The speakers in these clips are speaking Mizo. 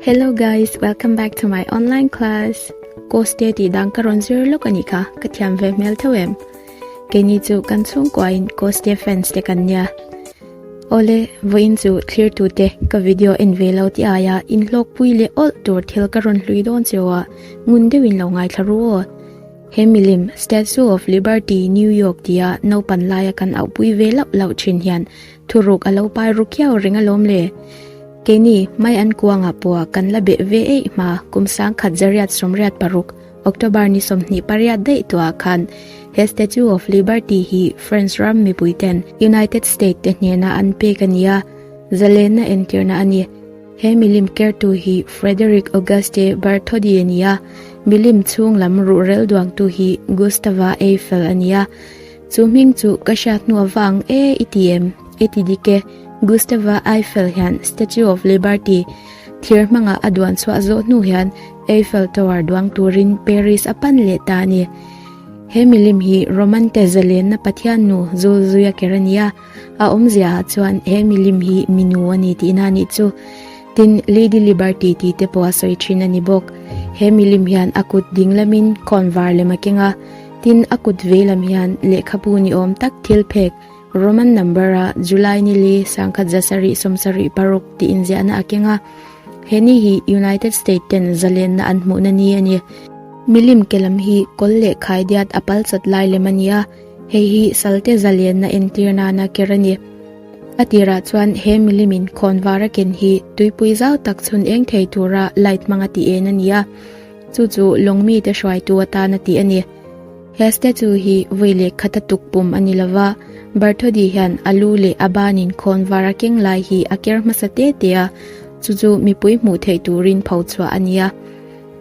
Hello guys, welcome back to my online class. Course te ti dang ka ron zir lawk ani kha, ka thiam ve hmel tho em. Ke ni chu kan chhungkua in course te friends te kan nia. Ole, voin chu clear tu te ka video en ve lo ti aya in hlok pui le all tur thil ka ron hlui don chewa ngun deuin lo ngai thlaru o. He milim Statue of Liberty New York tia no pan laia kan au pui ve lau lau thin hian Thu ruk a lo pai ru kiau ring alawm le. Keini mai an kuangah pawha kan la beh ve eih hma kum sangkhat zariat sawmriat paruk October ni sawmhnih pariat daih tuah ah khan he Statue of Liberty hi France ram mipui ten United State te hnenah an pek a nia zalenna entirna a ni. He milim kertu hi Frederick Auguste Bartholdi a nia, milim chhunglam ruhrel duangtu hi Gustave Eiffel a nia. Chu hming chu ka hria hnu avang e i ti em? I ti dik e. Gustava Eiffel hian Statue of Liberty thir hmanga a duan chhuah zawh hnu hian Eiffel Tower duang turin Paris a pan leh ta a ni. He milim hi Romante zalenna pathiannu Zulzuya ker a ni a, a awmzia ah chuan he milim hi minu a ni tihna a nih chu. Tin, Lady Liberty tih te pawh a sawi thin a ni bawk. He milim hian a kut ding lamin khawn var lem a keng a, tin, a kut vei lam hian lehkhabu ni awm tak thil phek, Roman number a, July ni li, sangkhat za sarih, sawm sarih paruk tih inziahna a keng a. He ni hi United States ten zalenna an hmuhna ni a ni. Milim ke lam hi kawl leh khai diat a palchat lai lem a ni a, hei hi salte zalenna entir nana ker a ni. A tirah chuan he milimin khawnvara ken hi tuipui zau tak chhun eng thei tura light hmanga ti en a ni a, chu chu lawng mite hruaitu atan a tih a ni. He statue hi vawi leh khata tuk pum a ni lo va, Bartholdi hian a lu leh a banin khawnvar a keng lai hi a ker hmasa te te a, chu chu mipui hmuh theih turin pho chhuah a ni a.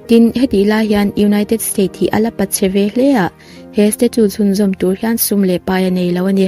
Tin, hetih lai hian United States hi a la pat che ve hle a, he statue chhunzawm tur hian sum leh pai a nei lo a ni.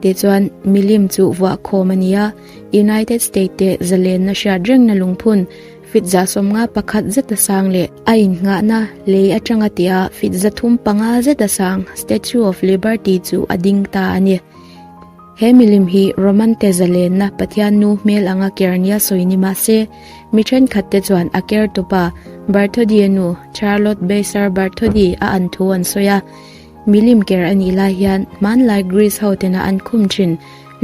Tichuan, milim chu vuah khawm a ni a, United States te zalenna hriat rengna lungphun, fitza sawmnga pakhat zeta sang leh a innghahna lei atanga tia fitza thum panga zeta sang Statue of Liberty chu a ding ta a ni. He milim hi Roman te zalenna Pathian nu hmel anga ker nia sawi ni mah se, mi thenkhat te chuan a ker tupa Barthodia nu Charlotte Baser Bartholdi a an thu an sawi a. Milim ker anih lai hian hmanlai Greece ho tena an khum thin,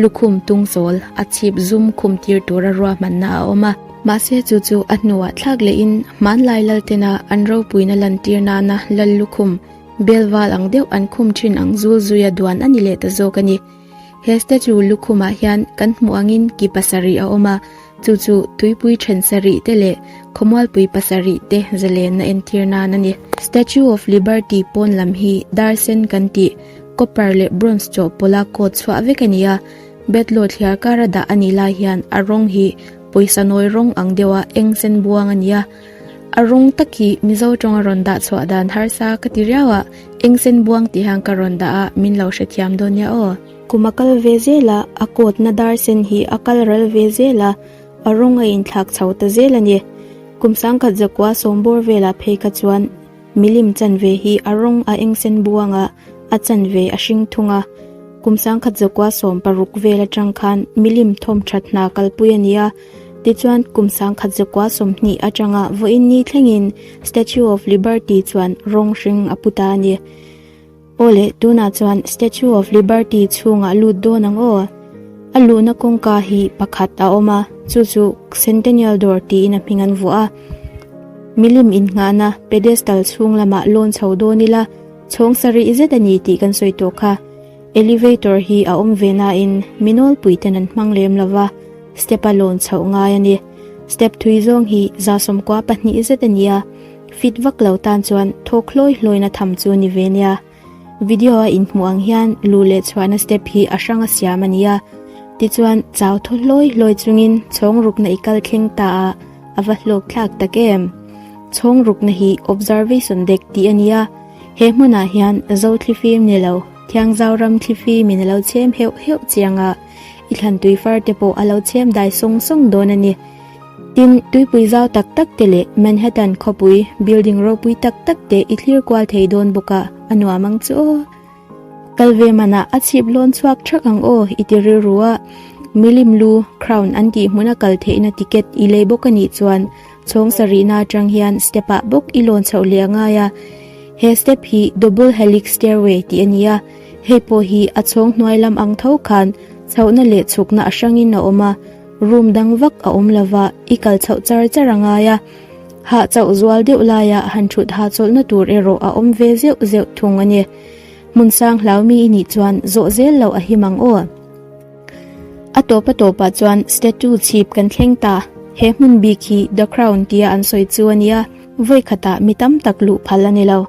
lukhum tung zawl, a chhip zum khum tir tura ruahmanna a awm a. Mahse chu chu a hnuah thlak lehin hmanlai lal tena an ropuina lantir nana lal lukhum, belval ang deuh an khum thin ang zul zui a duan a ni leh ta zawk a ni. He statue lukhumah hian kan hmuh angin ki pasarih a awm a, chu chu tuipui then sarih te leh khawmualpui pasarih te zalenna entir nan a ni. Statue of Liberty pawn lam hi dar sen kan tih copper leh bronze chawhpawla coat chhuah vek a ni a, bedlaw thliar kara dah a nih lai hian a rawng hi pawisa nawi rawng ang deuha eng sen buang a ni a. A rung tak i Mizo tawng a rawn dah chhuah dan harsa ka ti riau a, eng sen buang tih hian ka rawn dah a, min lo hrethiam dawn nia aw. Kum a kal ve zel a, a coat na dar sen hi a kal rel ve zel a, a rawng a inthlak chho ta zel a ni. Kum sangkhat zakua sawmbawr velah phei kha chuan. Milim chanve hi a rawng a eng sen buang a, a chanve a hring thung a. Kum sangkhat zakua sawm paruk vel atang khan milim thawm that hna kalpui a ni a. Tichuan, kum sangkhat zakua sawm hnih atanga vawiin ni thlengin Statue of Liberty chuan rawng hring a put a a ni. Aw le, tunah chuan Statue of Liberty chhungah lut dawn ang aw. A luhna kawngka hi pakhat a awm a, chu chu Centennial dawr tiin a hming an vuah a. Milim innghahna pedestal chhung lamah lawn chho dawn ila, chhawng sa rih zet a ni tih kan sawi tawh kha. Elevator hi a awm ve nain mi nawlpui ten an hmang lem lo va, step a lawn chhoh ngai a ni. Step thui zawng hi zasawmkua pahnih zet a ni a. Fit vak lo tan chuan thaw hlawi hlawina tham chu ni ve nia. Video a inhmuh ang hian luh leh chhuahna step hi a hranga siam a nia. Tichuan chau thaw hlawi hlawi chungin chhawng rukna i kal thleng ta a, a va hlawk thlak tak em. Chhawng rukna hi observation dek tih a nia. He hmunah hian zo thli fim ni lo, thiang zau ram thli fimin a lo chhem heuh heuh chianga i thlan tui far te pawh a lo chhem dai sawng sawng dawn a ni. Tin, tuipui zau tak tak te leh Manhattan khawpui, building ropui tak tak te i thlir kual thei dawn bawk a, a nuam ang chu aw. Kal ve manah a chhip lawn chhuak ṭhak ang aw i ti rilru a, milim lu, crown, an tih hmun a kal theihna ticket i lei bawk a nih chuan chhawng sa rihna aṭang hian step ah bawk i lawn chhoh leh a ngai a. He step hi double helix stairway tih a ni a, hei pawh hi a chhawng hnuai lam ang tho khan chhohna leh chhukna a hrangin a awm a, Room dang vak a awm lova i kal chauh char char a ngai a, hah chauh zual deuh laia han thut hah chawlhna tur erawh a awm ve zeuh zeuh thung a ni. Hmun sang hlau mi i nih chuan zawh zel lo a him ang aw. A tawpa tawpah chuan statue chhip kan thleng ta, he hmun bik hi The Crown tia an sawi chu a nia, vawi khatah mi tam tak luh phal a ni lo.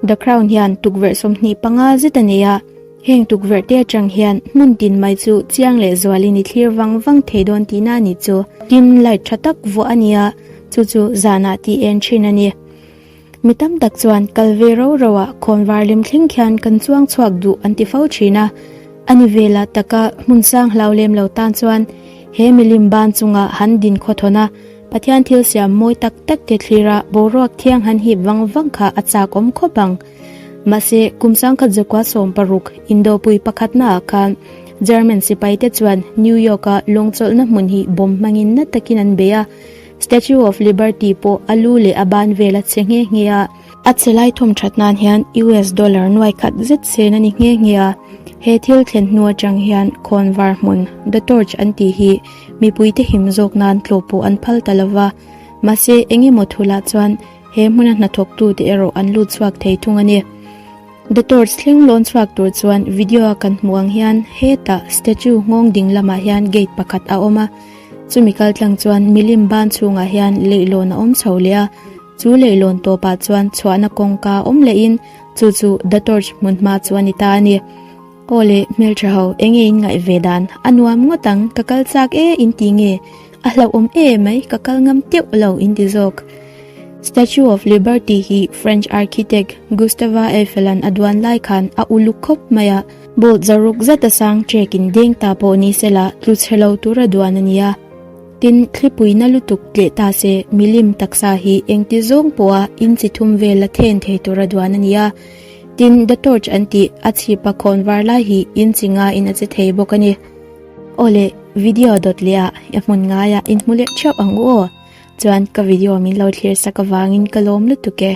The Crown hian tukverh sawmhnih panga zet a nei a, Heng tukverh te atang hian hmun tin mai chu chiang leh zual in i thlir vang vang thei dawn tih na a ni chu. Tin light tha tak vuah a nia, chu chu zan ah ti en thin a ni. Mi tam tak chuan kal ve ro ro ah khawm var lem thleng khian kan chuang chhuak duh an ti fo thin a. A ni ve la tak a, hmun sang hlau lem lo tan chuan he milim ban chung ah han din khaw thawn a, Pathian thil siam mawi tak tak te thlir a boruak thiang han hip vang vang kha a chak awm khawp ang. Mahse, kum sangkhat Zakua sawm paruk, Indopui pakhatna ah khan German sipai te chuan New York a lawngchawlhna hmun hi bomb hmangin na takin an bei a, Statue of Liberty pawh a lu leh a ban vel a che nghe nghe a. A chelai thawm tha nan hian US dollar nuai khat zet sen a ni nghe nghe a. He thil thlen hnu atang hian khawn var hmun, The Torch an tih hi mipui te him zawk nan tlawh pawh an phal ta lo va. Mahse, eng emaw thu lah chuan, He hmuna hnathawktu te erawh an lut chhuak thei thung a ni. The Torch thleng lawn chhuak tur chuan video a kan hmuh ang hian hetah statue nghawng ding lamah hian gate pakhat a awm a, chumi kaltlang chuan milim ban chhungah hian leihlawn a awm chho leh a, chu leihlawn tawpah chuan chhuahna kawngka awm lehin chu chu The Torch hmunhma chu a ni ta a ni. Aw le, hmelṭha ho, eng nge in ngaih ve dan? A nuam ngawt ang, ka kal chak e in ti nge? A hlauhawm e mai, ka kal ngam teuh lo in ti zawk. Statue of Liberty hi French architect Gustave Eiffel-a'n a duan lai khan a uluk khawp mai a. Bolt zaruk zat a sang ṭek in deng ta pawh ni se la, tlu chhe lo tur a duan a ni a. Tin, thlipuina lutuk tleh ta se, milim taksa hi engti zawng pawha in chi thum vel la then thei tur a duan a ni a. Tin, The Torch an tih a chhip a khawn var lai hi in chi ngaiin a che thei bawk a ni. Aw le, video dawt lehah i hmun ngaiah in hmu leh ṭhiau ang u aw. Chuan ka video min lo thlir sak avangin ka lawm lutuk e.